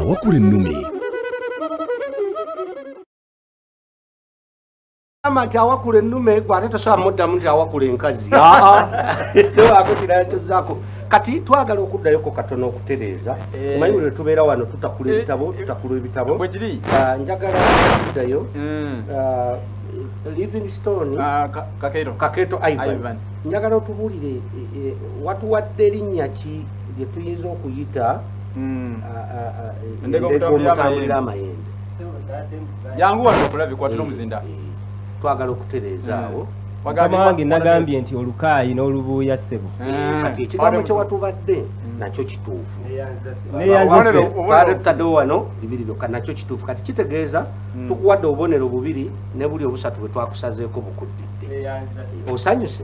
awakula ennumi ama nti awakula ennume gwe ate tosobola muddamu nti awakula enkazi akokiratozako kati twagala okuddayoko katono okutereeza eh. omanyi buli tubeera wano tutakula eh. ebitabo tutakula ebitabo ah, njagala okuddayo hmm. ah, livingstone ah, kaketo ivan njagala otubuulire eh, watuwadde erinnya ki lye tuyinza okuyita hmm. endeka omutambulira amayembe yangu wano okulabe kwatira omuzinda twagala okutereeza awo wange nagambye nti olukaayi n'olubuuya ssebo kati ekigambo kyewatubadde nakyo kituufu neyanzisekadewo wano bibiri byokka nakyo kituufu kati kitegeeza hmm. tukuwadde obubonero bubiri ne buli obusatu bwe twakusazeeko bukuddidde osanyuse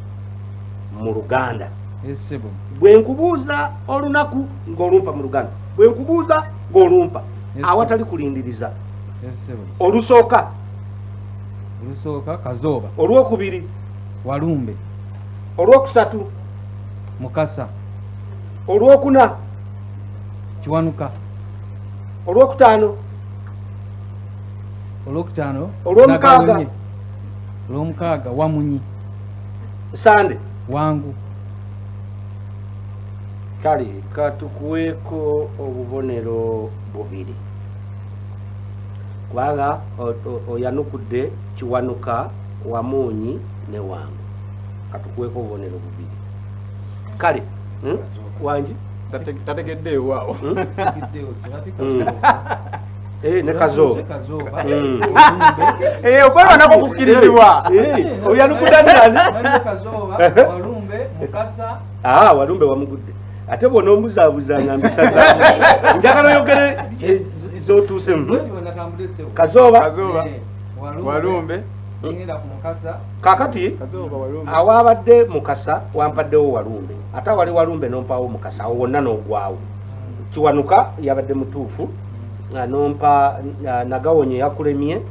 mu luganda bwe nkubuuza olunaku ng'olumpa mu luganda bwe nkubuuza ng'olumpa awatali kulindiriza olusooka olusooka kazooba olwokubiri walumbe olwokusatu mukasa olwokuna kiwanuka olwokutaano olwokutaano olwomukaaga olwomukaaga wamunyi sande wangu kale katukuweeko obubonero bubiri kubanga oyanukudde kiwanuka wamuunyi ne wangu katukuweeko obubonero bubiri kale hmm? wangi tategeddeewaawo hmm? Eh, ne kazo hmm. eh, okweba nako kukirizibwa eh, oyanukudanirani ah, walumbe wamugudde ate bwona omuzabuza nga mbisaza njagala oyogere zotuuse hmm? kazooba walumbe kakati awaabadde mukasa wampaddewo walumbe ate awali walumbe nompaawo mukasa awo wonna nogwawo hmm. kiwanuka yabadde mutuufu ah, nompa ah, nagawonyo eyakulemye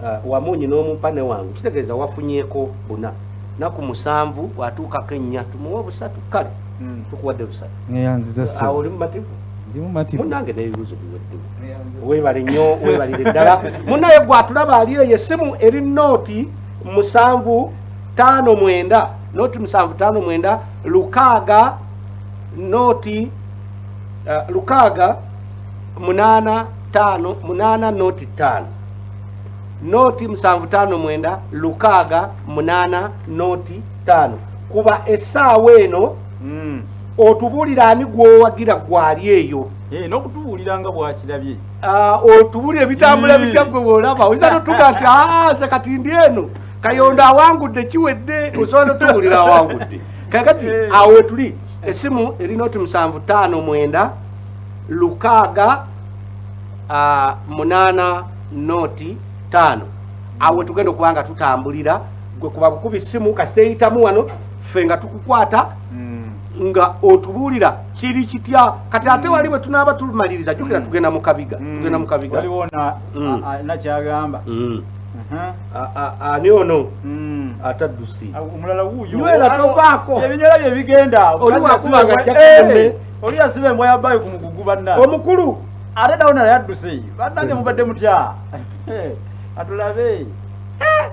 ah, wamunyi nomumpa newange kitegeeza wafunyeko buna naku musanvu watuukako ennya tumuwa busatu kale hmm. tukuwadde busatu oli mumativu munange nebibuzo biweddewo webale nyo webalire ddala munaye gwatulaba ali eyo esimu eri nooti musanvu tano mwenda noti musanvu tano mwenda lukaaga noti uh, lukaaga munana tano munana noti tano noti musanvu tano mwenda lukaaga munana noti tano kuba esaawa eno mm. otubulira ani gwowagira gwali eyo eh, nokutubulira nga bwakirabye ah, otubulira ebitambula bitya gwe wolaba oyinza notuga nti ah, nze kati ndi eno kayondo awangudde kiwedde osobola notubulira awangudde kakati eh. awo wetuli esimu erinoti musanvu tano mwenda lukaaga uh, munaana nooti taano awo wetugenda okuba nga tutambulira gwe kuba bukubi simu kasita eyitamu wano ffe nga tukukwata mm. nga otubuulira kiri kitya kati ate mm. wali bwe tunaaba tumaliriza jukira mm. tugenda mukabiga tugenda mukabiga nakyagamba ani ono hmm. ataddusi omulala wuuyo era tovaako ebinyola bye bigenda oliwakuba nga jjakume eh. Oli yasiba embwa ya bayo ku mugugu banna. Omukulu ate nawe naye adduse bannange mubadde mutya atulabe eh!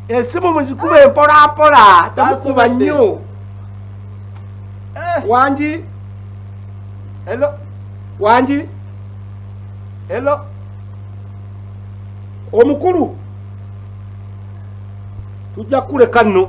esimu muzikuba empolampola tamukuba nnyo eh! wangi elo wangi elo omukulu tujja kukuleka nno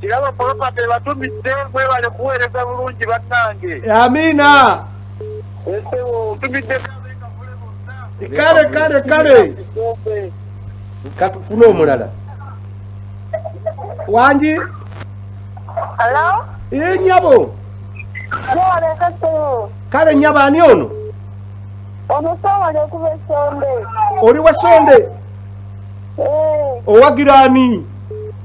Kirabo property ebatumidde mwebale kuweereza bulungi bannange. Amiina. Esewo ntumidde kale kale kale katufune omulala wangi ee nyabo kale nyabo ani ono oli wasonde eh. owagira ani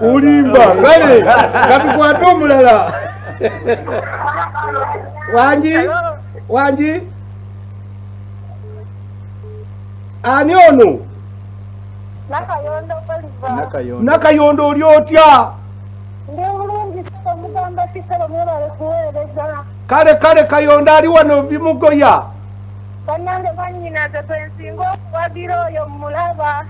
olimba kale kabikwate omulala wangi wangi ani ono nakayondo oli otya kale kale kayondo ali wano bimugoya banange banyinaze bwensinga okuwagira oyo mulaba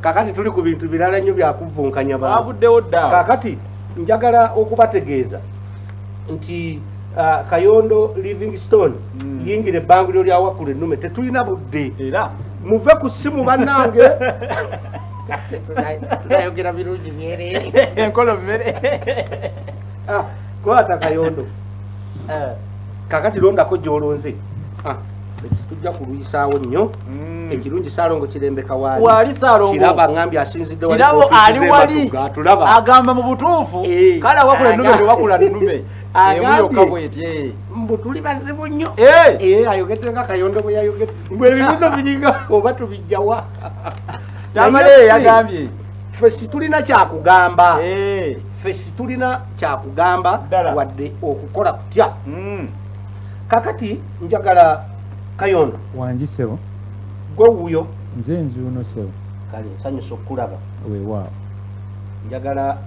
kakati tuli ku bintu birala nnyo byakuvvunkanya baabuddewo dda kakati njagala okubategeeza nti uh, kayondo livingstone mm. yingira ebbanguliro lya wakkulu ennume tetulina budde era muve ku ssimu bannange tunayogera birungi byere enkolo mmere ah, kwata kayondo eh. kakati londako gyolonze ah. tujja kulwisaawo nnyo mm. ekirungi salongo kirembeka waali kiraba ngambye asinziddekirabo ali wali agamba mu butuufu eh. kale awakula enume ewakula nume emuyokka bwetye eh. mbu tuli bazibu nnyo eh. ayogedde nga kayondo bwe yayogedde mbu ebibuzo biringa oba tubijjawa tamale yagambye ffe situlina kyakugamba ffe situlina kyakugamba wadde okukola kutya mm. kakati njagala kayondo wangi sebo gwe wuyo nze nzuuno sebo kale nsanyusa okukulaba wewaawo njagala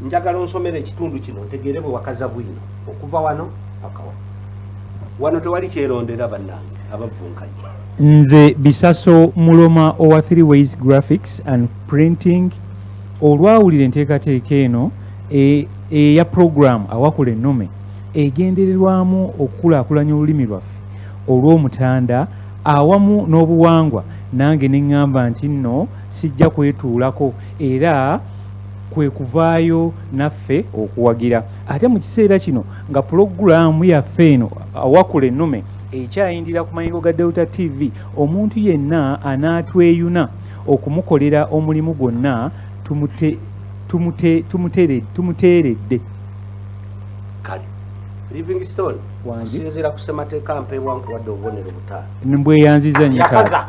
njagala onsomera ekitundu kino ntegeere bwe wakaza bwino okuva wano pakawa wano tewali kyerondera bannange abavvunkanye nze bisaso muloma owa three ways graphics and printing olwawulira enteekateeka eno e eya pulogulaamu Awakula Ennume egendererwamu okukulaakulanya olulimi lwaffe olw'Omutanda awamu n'obuwangwa nange ne ŋŋamba nti nno sijja kwetuulako era kwe kuvaayo naffe okuwagira ate mu kiseera kino nga pulogulaamu yaffe eno Awakula Ennume ekyayindira ku mayengo ga Delta TV omuntu yenna anaatweyuna okumukolera omulimu gwonna tumute tumuteeredde kale livingstone osinziira ku ssemateeka mpeebwa nkuwadde obubonero butaano mbweyanziza nyo taata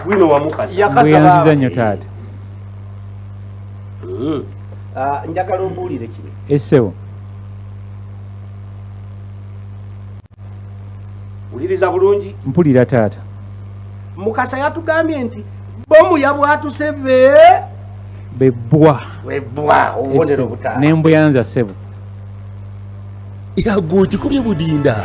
wino wamukazi mbweyanziza nyo taata hmm. ah, njagala ombuulire kino esebo wuliriza bulungi mpulira taata mukasa yatugambye nti bomu yabwatuse be bebbwa webbwa obubonero butaano nembuyanza sebo yago okikubye budinda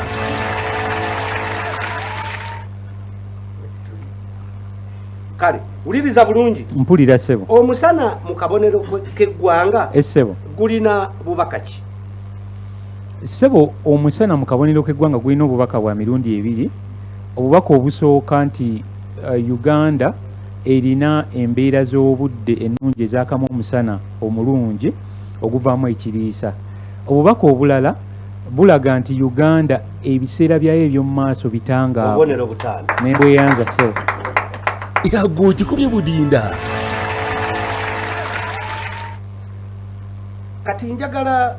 kale wuliriza bulungi mpulira sebo omusana mu kabonero keggwanga esebo gulina bubakaki Ssebo omusana mu kabonero k'eggwanga gulina obubaka bwa mirundi ebiri. Obubaka obusooka nti uh, Uganda erina embeera z'obudde ennungi ezakamu omusana omulungi oguvaamu ekiriisa. Obubaka obulala bulaga nti Uganda ebiseera byayo eby'omu maaso bitangaavu ne bweyanza ssebo. Yagwe okikubye budinda. Kati njagala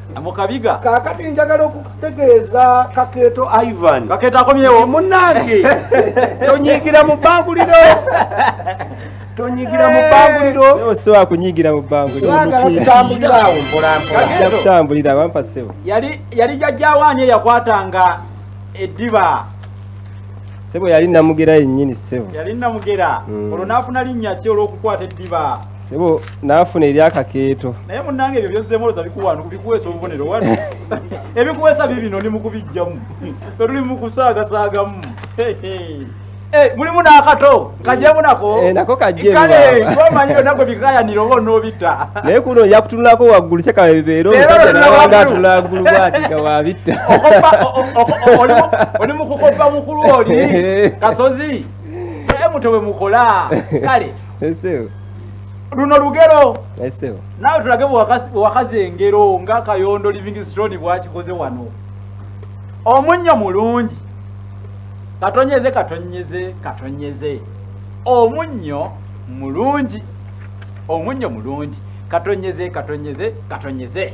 mukabiga kakati njagala okutegeeza kakeeto ivan kakeeto akomyewo munange tonyigira mu bbanguliro tonyigira mu bbanguliro osobola kunyigira mu bbangulirokutambuliraawo mpolampola kutambulira wampa sebo yali jajjawo ani eyakwatanga eddiba sebo yali namugera yennyini sebo yali namugera hmm. olwo naafuna linnya ki olw'okukwata eddiba Sebo nafuna eri akakeeto. Naye munange ebyo byozze moloza bikuwano kubikuwesa obubonero wano. Ebikuwesa bibino ni mukubijjamu. Tuli mukusaaga saagamu. Eh, mulimu n'akato kajemu nako eh, nako kajemu kale twamanyiro nako bikayanira oba onoobita naye kuno nja kutunulako waggulu kyekabebeera omusajja nawanga atula waggulu bwati nga wabitta oli mu kukoppa mukulu oli kasozi naye muto bwe mukola kale luno lugero naawe tulage bwewakaza engero nga kayondo livingstone bwakikoze wano omunnyo mulungi katonyeze katonyeze katonyeze omunnyo mulungi omunnyo mulungi katonyeze katonyeze katonyeze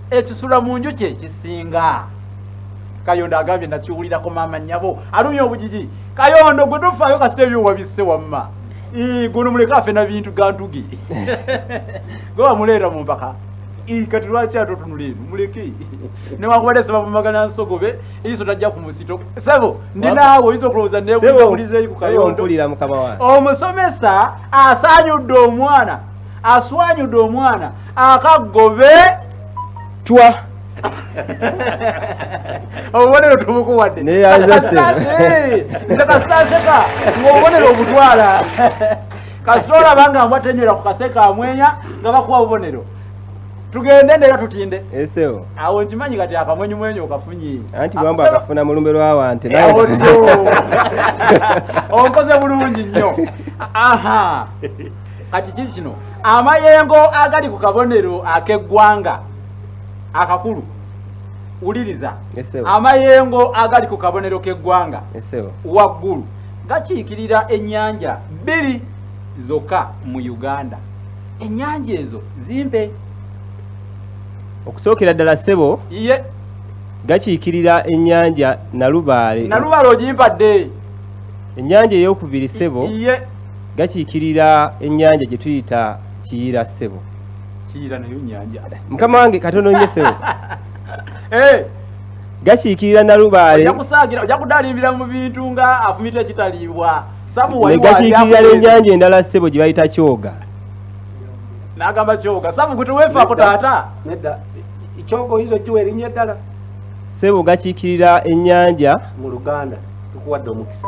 ekisula mu nju kyekisinga kayondo agambye nakiwulirako maama nyabo alumya obujiji kayondo gwe tofaayo kasita ebyo wabisse wamma guno muleke afe na bintu gantuge gwe wamuleeta mu mpaka kati lwaki atotunula eno muleke newakubadde sebavumagana nsogobe eiso tajja ku musito sebo ndi naawe oyinza okulowooza nebulizeeyi ku kayondo omusomesa asaanyudde omwana aswanyude omwana akagobe twa obubonero tubukuwadde nekasaseka ngaobubonero obutwala kasita olaba nga mbwa tenyera ku kaseka amwenya nga bakuwa bubonero tugende nera tutinde esewo awo nkimanyi kati akamwenyi mwenyi okafunyi anti bwamba akafuna mulumbe lwawante onkoze bulungi nnyo aha kati kiki kino amayengo agali ku kabonero ak'eggwanga akakulu wuliriza amayengo agali ku kabonero k'eggwanga waggulu gakiikirira ennyanja bbiri zokka mu uganda ennyanja ezo zimpe okusookera ddala ssebo ye gakiikirira ennyanja nalubaale nalubaale ogimpadde ennyanja ey'okubiri ssebo ye gakiikirira ennyanja gye tuyita kiyira ssebo kiyira nayo nyanja mukama wange katono nye ssebo eh! gakiikirira nalubaale ojja kudalimbira mu bintu nga afumita ekitaliibwa gakiikirira n'ennyanja endala ssebo gye bayita kyoga n'agamba kyoga sabu gwe teweefaako taata nedda kyoga oyinza ogiwa erinnya eddala ssebo gakiikirira ennyanja mu luganda tukuwadde omukisa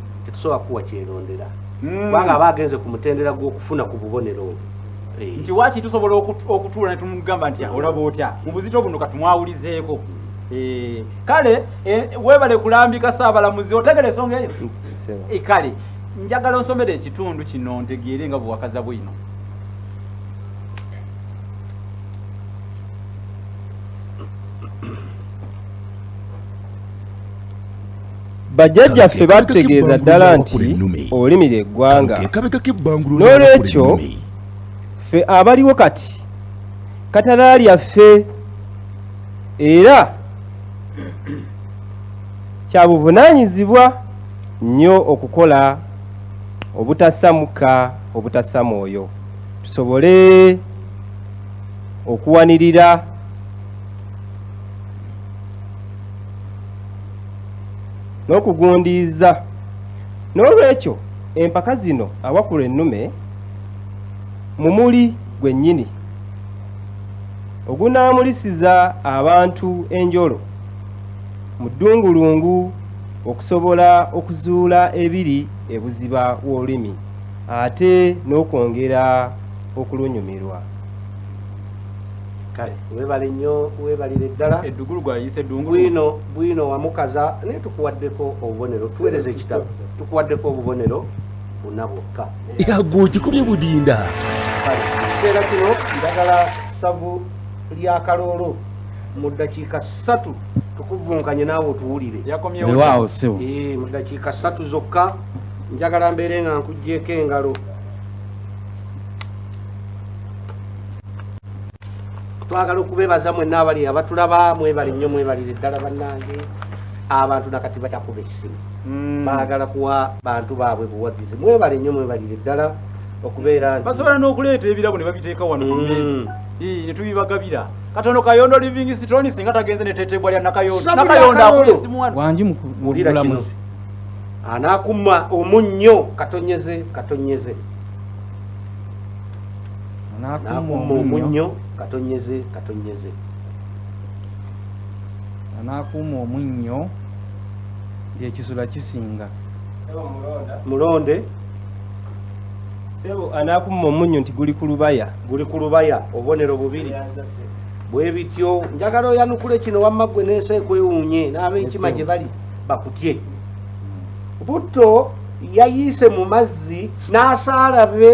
tetusobola kuwa kyerondera hmm. kubanga aba agenze ku mutendera gw'okufuna ku bubonero obwo eh. nti waki tusobola okutuula ne tumugamba nti hmm. olaba otya mu buzito buno katumwawulizeeko eh, kale eh, webale kulambika saabalamuzi otegera ensonga eyo kale njagala onsomere ekitundu kino ntegeere nga buwakaza bwino bajjajjaffe batutegeeza ddala nti olulimi lye ggwanga n'olwekyo ffe abaliwo kati katala lyaffe era kya buvunaanyizibwa nnyo okukola obutassa mukka obutassa mwoyo tusobole okuwanirira n'okugundiiza n'olwekyo empaka zino awakula ennume mu muli gwennyini ogunaamulisiza abantu enjolo mu ddungulungu okusobola okuzuula ebiri ebuziba w'olulimi ate n'okwongera okulunyumirwa. kale webale nnyo webalire ddala eddugulu gwayise bwino bwino wamukaza naye tukuwaddeko obubonero tuweereza ekitabo tukuwaddeko obubonero buna bwokka yago kikubye budinda kiseera kino ndagala ssavu lya kaloolo mu ddakiika ssatu tukuvunkanye naawe otuwulire yakomyewewaawo siwo eh, mu ddakiika ssatu zokka njagala mbeere nga nkuggyeko engalo twagala okubebaza mwenna abali abatulaba mwebali nnyo mwebalire ddala bannange abantu nakati bakyakuba essimu hmm. baagala kuwa bantu baabwe buwagizi mwebale nnyo mwebalire ddala okubeera basobola n'okuleeta ebirabo ne babiteeka wano hmm. ne tubibagabira katono kayondo living stone singa tagenze ne tetebwa lya nakayondo nakayondo akuli esimu wano wangi mukulamuzi anakuma omunnyo katonyeze katonyeze n'akumma omunnyo katonyeze katonyeze n'akuuma omunnyo ng'ekisula kisinga mulonde sebo anaakumma omunnyo nti guli ku lubaya guli ku lubaya obubonero bubiri bwe bityo njagala oyanukule kino wamma ggwe n'ensi ekwewuunye n'ab'enkima gye bali bakutye butto yayiise mu mazzi n'asaala be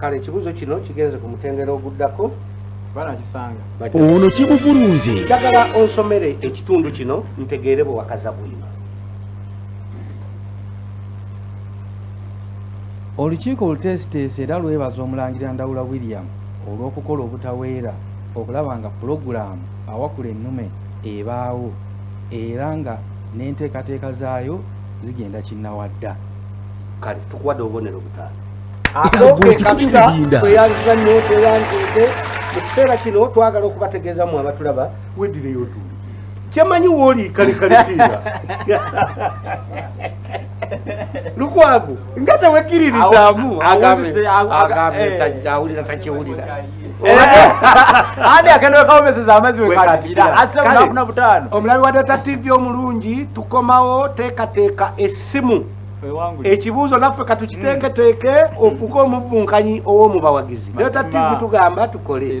kale ekibuuzo kino kigenze ku mutendera oguddako ono kimuvulunze njagala onsomere ekitundu kino ntegeere bwe wakaza bwino olukiiko oluteesiteesi era lwebaza omulangira ndawula william olw'okukola obutaweera okulaba nga pulogulaamu awakula ennume ebaawo era nga n'enteekateeka zaayo zigenda kinnawadda kale tukuwadde obubonero butaano akoekabitaeyanzanyoteyanzete mu kiseera kino twagala okubategeeza mu abatulaba wedireyo tuli kyemanyi wooli kalekalekiira lukwago nga tewekiririzaamu awulira takiwulira ani agenda wekawomeseza amazzi wekatira asse bunaku na butaano omulabi wa data tv omulungi tukomawo teekateeka essimu ekibuuzo naffe katukiteeketeeke hmm. ofuuke omuvvunkanyi ow'omubawagizi data tv tugamba tukole